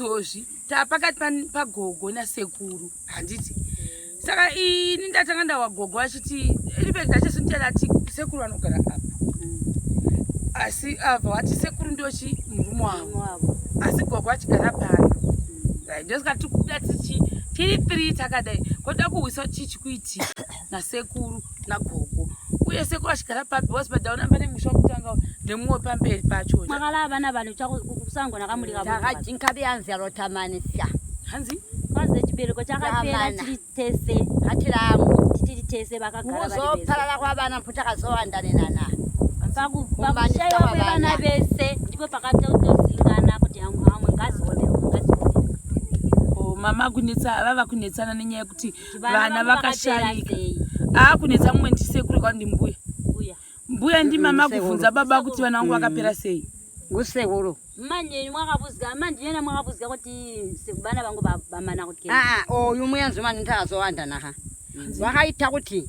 Dozvi tapakati pagogo nasekuru handiti saka ini ndatanga ndawa gogo vachiti ribeki ndachasindiyana ati sekuru vanogara apa asi ava wati sekuru ndochi murume wavo asi gogo vachigara pano ndosaka tikuda tichi tiri three takadai koda kuhwisa chichi kuitika nasekuru nagogo uye sekuru achigara papi was padaona pane musha wekutanga nemumwe pamberi pacho makala vana vanhu kusango nakamurikaaakajinka beyanzi arotamanisa hanzi maze chibereko chakapera chiri tese hatiramu titiri tese vakagaraozoparara kwavana mpo takazowandanenana pakushaiwa kwevana vese ndipo pakatotozingana kuti amwe ngazi wondeomwe ngazi wonde oh, mama kunetsa vava kunetsana nenyaya yekuti vana vakashaika aakunetsa mumwe ndisekuru kwandi mbuya mbuya ndimama kubvunza baba kuti vana vangu vakapera mm. sei ngusekuru manje mwakabuzika manje yena mwakabuzika kuti sekubana vangu bamana kuti aa ah, ah, oyu oh, muyanzi manje ndazowanda naha mm. vakaita kuti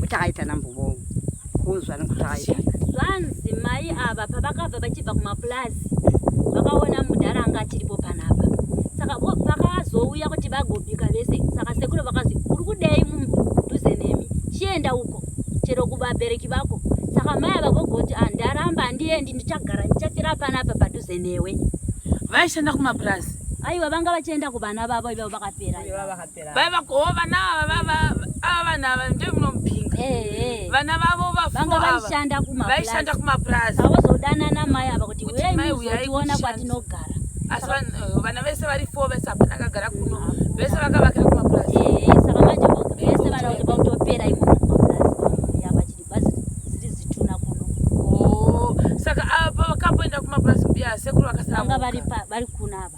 kuti aita nambovo kuzvana kuti aita zvanzi mai ava pavakabva vachibva kumapulazi vakaona mudhara anga achiripo panapa saka pakazouya kuti vagobika vese saka sekuru vakazi uri kudei mudhuze nemi chienda uko chero kuvabereki vako saka mai ava vogoti ah, ndaramba handiendi ndichagara ndichafira panapa padhuze newe vaishanda kumapurazi aiwa vanga vachienda kuvana vavo ivavo vakapera vaiva ko vana ava ava vanhu ava ndoi munomupinga vana vavo vaishanda kumapurazi vavozodanana mai ava kuti uyai muzotiona kwatinogara asi eh, vana vese vari four vese hapana akagara kuno ah. vese vakavakira kumapurazi saka manje vese vana kuti vakutopera imomo saka apa ah, vakapoenda kumapurazi mbiya sekuru vakasanga vari kuna ava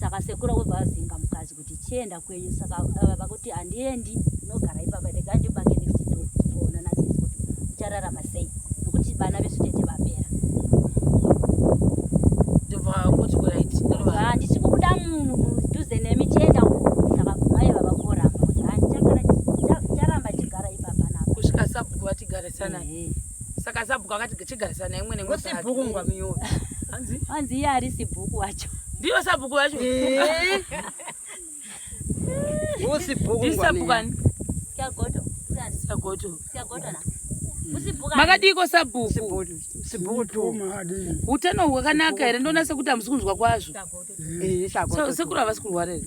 saka sekuru vobva vazinga mukadzi kuti chienda kwenyu saka eh, vakuti handiendi unogara ipapa rega ndibake next door tizoonana tese kuti uchararama sei nokuti vana vesu tete vapera ndobva kuti kurit handisi kubuda munhu mudhuze nemi chienda uko saka mai vava koramba kuti handichagara chicharamba chigara ipapa navo kusvika sabhuku vatigarisana eh, eh. saka sabhuku akati chigarisana naye mwene wesibhuku ngwamiyoyo hanzi hanzi iye ari sibhuku wacho ndiyo sabhuku wacho eh. usibhuku isabhuku ani siagoto siagoto siagoto na makadiiko sabhuku utano hwakanaka here ndonase kuti hamusi kunzwa kwazvo eh, sekuru havasi kurwara here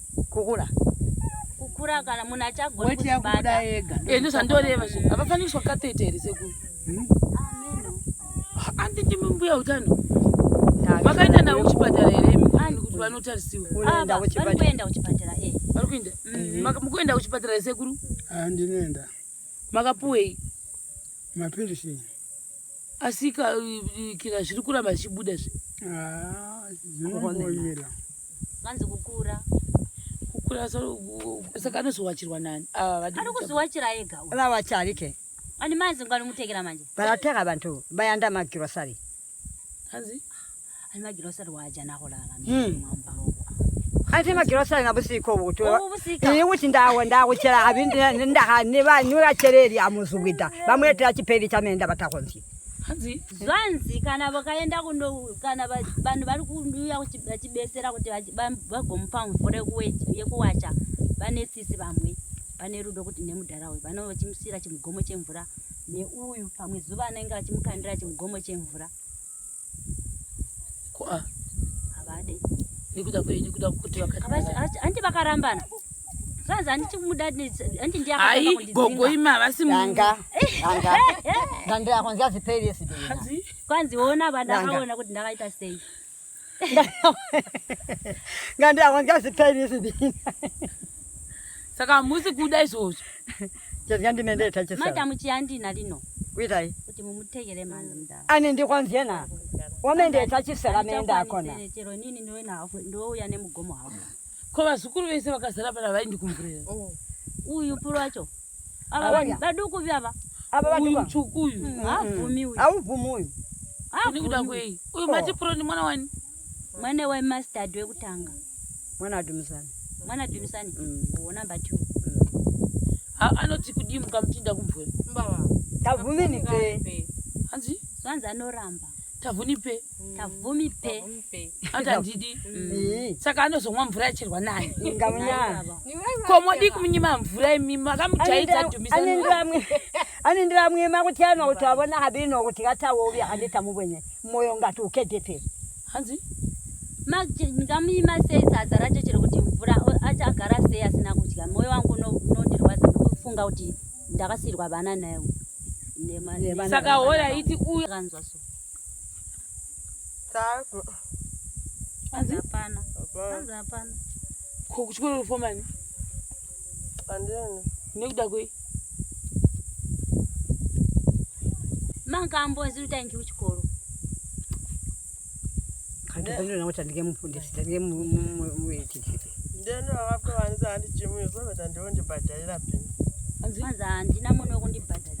kukura kukura kana munhu achagona kuzvibata ega ende eh, zvandoreva zve havafaniri kuiswa katete here sekuru hmm? anditi mumbuya utano vakaenda navo kuchipatara here kuti vanotarisiwa ah, vari kuenda kuchipatara eh. vari kuenda mhm. mm, mukuenda kuchipatara here sekuru ah, ndinoenda makapuwei mapirisi Asi ka kika zviri kuramba zvichibuda zve. Ah, zvinongomira. Vanzi kukura. Kukura so saka anozowachirwa nani? Ah, vadi. Ari kuzowachira ega. Ava wachari ke. Ani mazi ngani mutekera manje. Vayateka vantu vayanda magirosari. Hanzi? Ai magirosari waajana kulala hmm. Kati magirosari nabusiko butu. Iyi kuti ndawo ndawo chera abindi ndaha ne ba nyura chereri amuzubida. Bamwetera chiperi chamenda batakonzi. Hanzi zvanzi kana vakaenda kuno kana vanhu vari kuuya vachibesera kuti vagomupa mvura yekuwacha vane tsitsi vamwe vane rudo kuti nemudhara uyu vanova vachimusiyira chimugomo chemvura neuyu pamwe zuva anenge achimukandira chimugomo chemvura andi vakarambana zvanzi handiti kumuda handi ndiagogoima havasi manga ndandiakonzi aziperesi kwanzi ona vandakaona kuti ndakaita sei ngandiakonzi aziperesi Saka musi kuda izvozvo. Chezga ndine ndee tachisa. Madam chiyandina lino. Kuitai? Kuti mumutegere mhanzi mdara. Ani ndikwanzie na. Wame ndee tachisa la menda akona. Chero nini ndiwe na hafu ndiwe uya ne mugomo hafu. Ko vazukuru vese vakazara pana vai ndikumburira. Oh. Uyu puro wacho. Ava baduku vyava. Ava baduku. Uyu mchuku uyu. Mm, mm. Haubvumi uyu. Haubvumi uyu. Haubvumi uyu. Uyu mati puro ni mwana wani? Mwana wa mustard wekutanga. Mwana wa Dumisani. Mwana wa Dumisani. Mm. Oh, number 2. Mm. Ha, anoti kudii mukamutinda kumvura? Mbava. Tavumi ni pe. Hanzi? Zvanzi anoramba. Tavuni pe. Mm. Tavumi pe. Tavumi pe. Ata ndidi. Mm. Saka anozomwa mvura yacherwa nani? Ngamunya. Ko modi kumunyima mvura imi makamujaidza Dumisani. Anendiramwe. Anendiramwe makuti anoti avona habino kuti katawo uya handita mubwenye. Moyo ngati ukedepe. Hanzi ngamuima sei sadza racho chero kuti mvura achagara sei asina kudya moyo wangu unondirwadza ndokufunga kuti ndakasiyirwa vana naye saka hoya iti uyu akanzwa so hapana hapana kuchikoro rufomani Andene. Nekuda kwei? Mangambo ziri tangi kuchikoro. Kanti pendo na kuti ndinge mufundisi, ndinge muiti. Ndene vakapwa vanisa handi chimu yekuva kuti ndonde badalira pendo. Anzi andina munhu wekundibhadhara.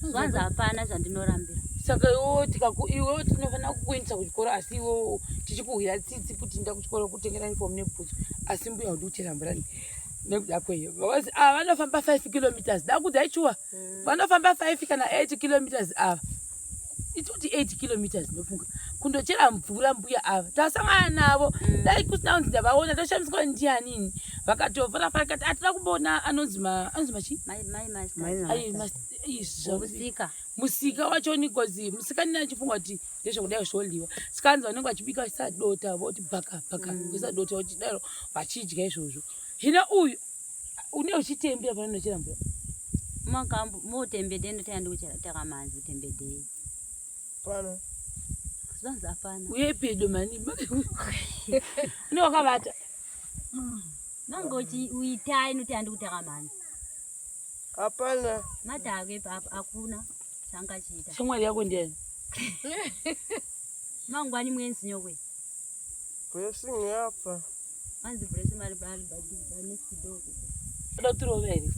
zvanzi hapana zvandinorambira saka iwo tikaku iwo tinofanira kukuendesa kuchikoro asi iwo tichikuhwira tsitsi kuti inda kuchikoro kutengera uniform nebhutsu asi mbuya kuti uchera mvura ne- nekuda kwei vakazi ah vanofamba 5 kilometers dakudzai chuwa vanofamba 5 kana 8 kilometers ava itoti 8 kilometers ndofunga kundochera mvura mbuya ava tasangana navo dai kusina kunzi ndavaona toshamiswa ndianini vakatovhura farakati atida kumboona anonzi ma- anonzi machi Mai- mai- mai- Mai- Ayi, mas- musika musika wacho nikozi musika nina chifunga kuti ndezvekudai zvodyiwa sikanzi vanenge vachibika sadota voti bhaka bhaka mm. sadota vachidaro vachidya izvozvo hino uyu une uchitembera pano nochera mvura makambo motembedei ndotanga ndikuchitaka manzi utembedei pano zvanzi apana uye pedo mani une wakavata mm. nanga uchiitai noti andikutaka manzi Hapana. Madhave baba hakuna changachiita. Shamwari yako ndiani? Mangwani mwenzi nyokwe. Blessing yapa. Anzi blessing mari bali badi bane kidogo. Kuda kutirova here?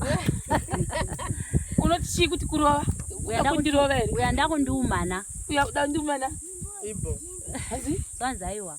Unoti chii kuti kurova? Uya kundirova here? Uya ndakundiumana. Uya ndakundiumana. Ibo. Hanzi? Zvanzi aiwa.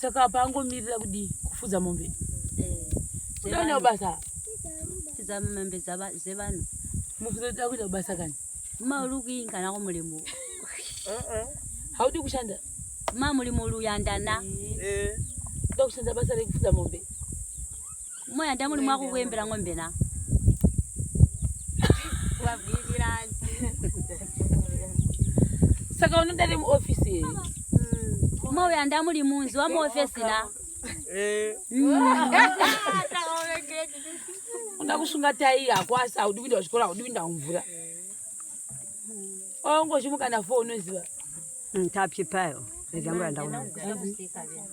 saka apa angomirira kudii kufudza mombe udaenda kubasa fudza mombe dzevanhu mukuzoda kuita kubasa kani maurikuini kana kumulimu uh-uh. haudi kushanda ma mulimu luyandana eh. uda kushanda basa rekufudza mombe Moya ndamuri mwakukuembera ng'ombe na. Wabvirirani. Saka unoda ri muoffice here? Mm. Moya ndamuri munzi wa muoffice na. Eh. Mm. Unoda kusunga tai yako asi haudi kuinda kuchikoro haudi kuinda kumvura. Ongochimuka na phone unoziva. Ntapyi mm, payo. Ndizangu yandaona.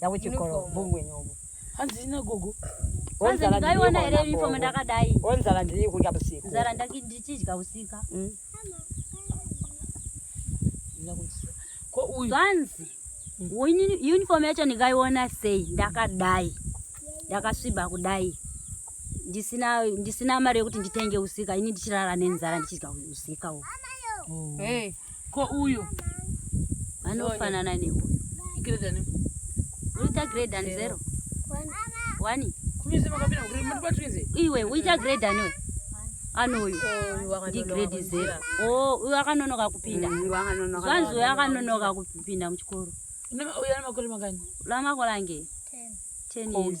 Yawe chikoro bungwe nyobo. Hanzi ina gogo. Hanzi ndaiona here uniform ndakadai. Onzara ndiri kudya usiku. Nzara ndichidya usiku. Mm. Ko uyu. Zvanzi. Uniform yacho ndikaiona sei ndakadai. Ndakasviba kudai. ndisina ndisina mari yekuti nditenge usika ini ndichirara nenzara ndichidya usika uyu oh. hey, ko uyu vanofanana neuyu uita grade and zero wani iwe uita grade aniwe anoyu ndigrade zero o uyo akanonoka kupinda zvanzi uyo akanonoka kupinda muchikoro lamakore ange ten years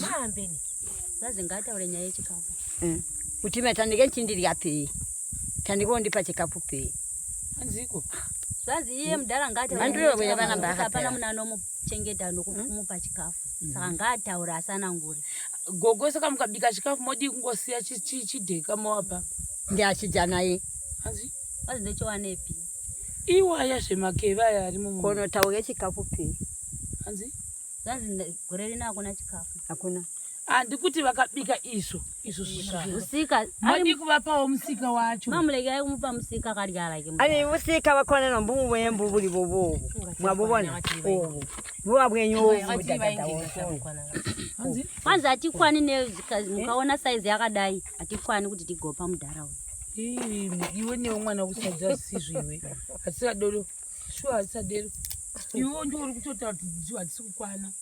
maambeni zazi ngaataure nyaya yechikafu eh. kuti ime tandike ndichindirya pei tandike wondipa chikafu pei hanziko zvazi iye mudhara ngaataurehapana muna anomuchengeta nokumupa hmm? chikafu hmm. saka ngaataure asanangure gogo saka mukabika chikafu modii kungosiya chidheka moapa ndiachidya naye hanzi wazi ndochiwanepi iwaya zvemakeva aya ari mukono tauke chikafu pei hanzi Zvanzi gore rino hakuna chikafu. Hakuna. Handi kuti vakabika izvo izvo zvisika madi kuvapawo musika wacho mamuleke ayi kumupa musika akarya like ayi musika vakona nombumu wembu buri bobo mwabobona obo vuva bwenyu kwanzi hatikwani ne mukaona saizi yakadai hatikwani kuti tigopa mudhara uyu iwe newe mwana wekusadza sisizvo iwe hatisikadodo shuwa hatisadero iwo ndiwo uri kutotaura kuti dziwa hadzisi kukwana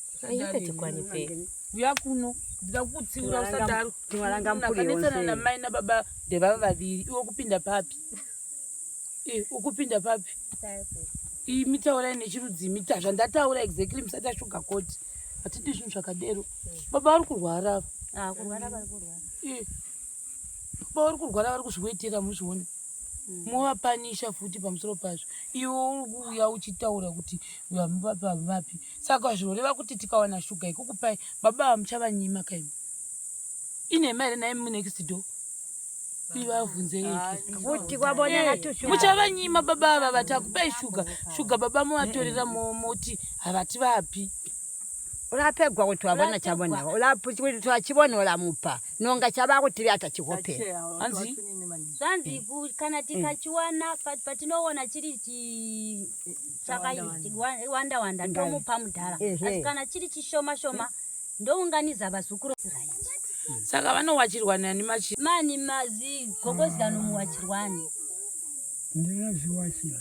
uya kuno ndida kukutsiura usadaroakanetsana namai nababa ndevava vaviri iwe kupinda papi eh, ukupinda papi imi taurai nechirudzi mita zvandataura exactly musati ashuga koti hatidi zvinhu zvakadero baba vari kurwara ava ah, eh. pavari kurwara vari kuzviwetera muzvione mm. movapanisha futi pamusoro pazvo iwe uri kuuya uchitaura kuti vapi saka zvinoreva kuti tikawana shuga ikukupai baba vamuchavanyima kaimi inhema here naye munext door muchavanyima eh, baba ava vati akupai shuga shuga baba movatorera moti havati vapi urapegwa kuti wavona chavona ulaputi kuti twachivona ulamupa nonga chava kutiri ata chihope hanzi zvanzi eh. kana eh. tikachiwana patinoona chiri chakawanda wanda tomupa mudhara asi kana chiri chishoma shoma ndounganiza vazukuru saka vanowachirwani ani machi mani mazi gogozi anomuwachirwani ndinazviwachira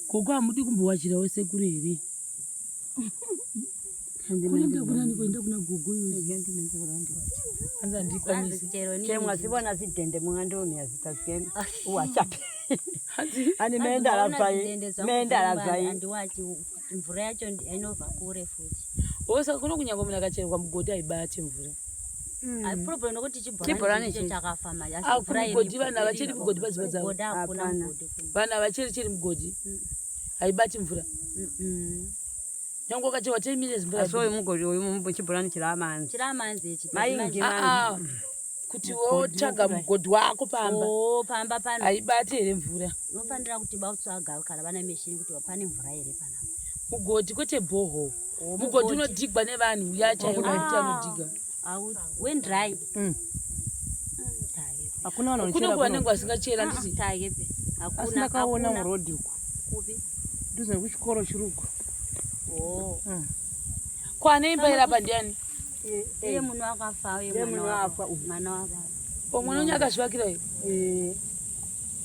gogo hamudi kumbowachira wese kuri here kuenda kunani kuenda kuna gogo anza ndikwanisi chemwa sibona sidende mwandomiya zitazikeni uwachapi ani meenda lazai meenda lazai andiwachi mvura yacho inobva kure futi osa kuno kunyangwa munhu akacherwa mugodhi haibati mvura chibhoranechakafamugodhi vanhu havacheri mugodhi paziva dzavo vanhu havacheri cheri mugodhi haibati mvura Nyango kachi wa 10 minutes mbura. Aso mugo uyu mumbo chibulani chira manzi. Chira manzi echi. Mai ngi manzi. Ah, ah. Kuti wo chaga mugodi wako pamba. Oh, pamba pano. Aibati here mvura. Unofanira kuti ba utsvaga kana vana machine kuti wapane mvura here pana. Mugodi kwete boho. Oh, mugodi unodigwa nevanhu uya chaiwo kuti anodiga. hakuna vanhu vanochera vanenge vasingachera ah, ndisi asi ndakaona muroad uku nduzi nekuchikoro chiri uku oh. ah. kwane imba iri apa ndiani eh, eh. iye munhu akafa uye mwana wababa omwana oh, unye akazvivakira iyo eh.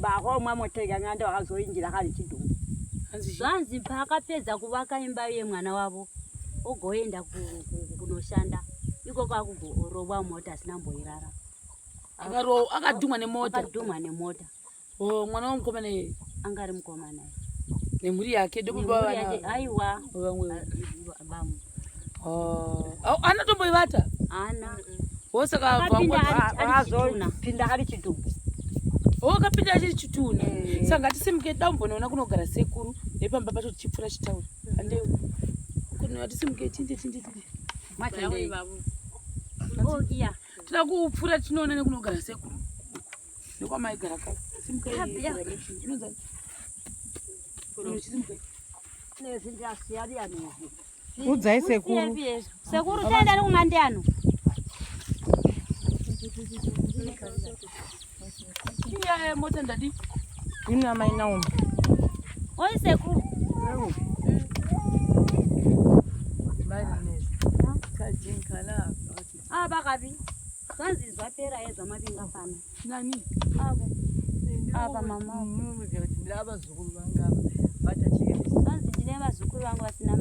Bahomwa motega ngando hazoingira kari chidumbu. Zvanzi paakapedza kuvaka imba yemwana wavo ogoenda kunoshanda ikoko akugorowa mota asina mboirara. Akadhumwa nemota. Akadhumwa nemota. Oh, mwana wamukomana iye. Anga ari mukomana. nemhuri yake ndokubaaiwa oh. anotomboivata wosakapinda ari chidumbu wakapinda achiri chituna eh. saka ngatisimuke da umbonoona kunogara sekuru nepamba pacho tichipfura chitauro andeu kunatisimuke tinde tinde tinde matandei oh, toda kupfura tinoona nekunogara sekuru ndokwamaigara ka udzai sekuru sekuru taenda ari kumandi ano iya mota ndadi ina mai naomi oi sekuru Bye, Miss. Kajin Kalab. Ah, bakabi. Zvanzi zvapera ye zvamavinga fana. Nani? Avo. Ava mama. Munhu uziva kuti ndira vazukuru vanga bata chike. Zvanzi ndine vazukuru vangu vasina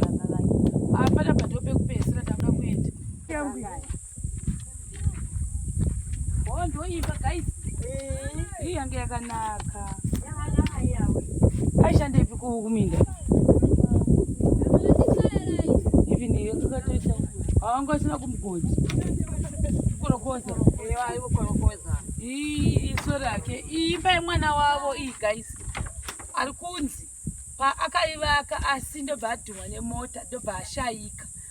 baba vake. Apa apa ndope kupesera tanga kuenda. Yangu. Oh, ndoiva guys. Eh, yange yakanaka. aishandepi kuminda even iyo tukatoita awanga asina kumugodzi korokoza iso rake imba yemwana wavo iyi guys ari kunzi paakaivaka asi ndobva adhumwa nemota ndobva ashaika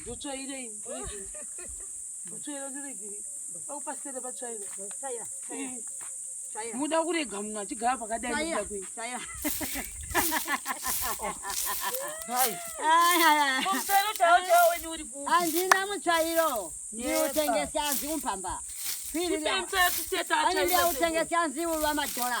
ndotsvairei ndoregei ndotsvaira ndoregei pakupasere patsvaira muda kurega munhu achigara pakadai andina mutsvairo ndiutengesi anzi umpamba piri anenge autengesi anzi uva madhora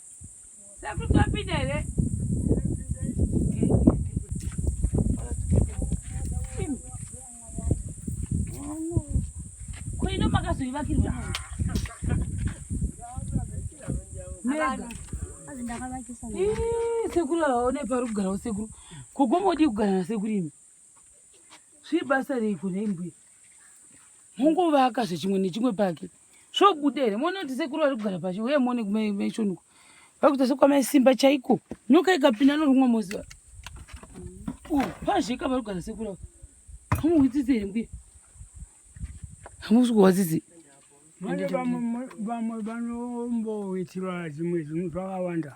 sekuru aone parikugarawo sekuru kogomodii kugara nasekuru imi zvii basa reiko nembuya monguvaka zvechimwe nechimwe pake zvobuda here mone kuti sekuru vari kugara pacho uye mone kumaishonuko vari kuita sekwamaisimba chaiko nyoka ikapinda norumwe moziva pazveka vari kugara sekuru avo hamuhwitsitsi here mbuya hamusi kuhwasisi vamwe vanomboitirwa zvimwe zvinhu zvakawanda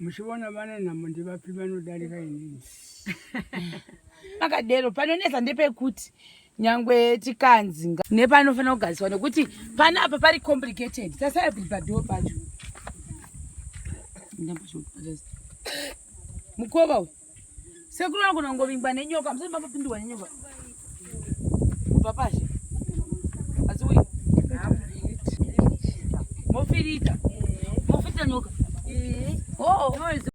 muchivona vane nhamo ndivapi vanodarika inini pakadero panonetsa ndepekuti nyangwe tikanzi nepanofanira kugariswa nekuti pana apa pari complicated tasara kuti padoo pacho mukova uyu Sekuru anogona kungovingwa nenyoka, musati mambopindurwa nenyoka. Kubva pashi. Asi uyu. Mofirita. Mofirita nyoka. Oh.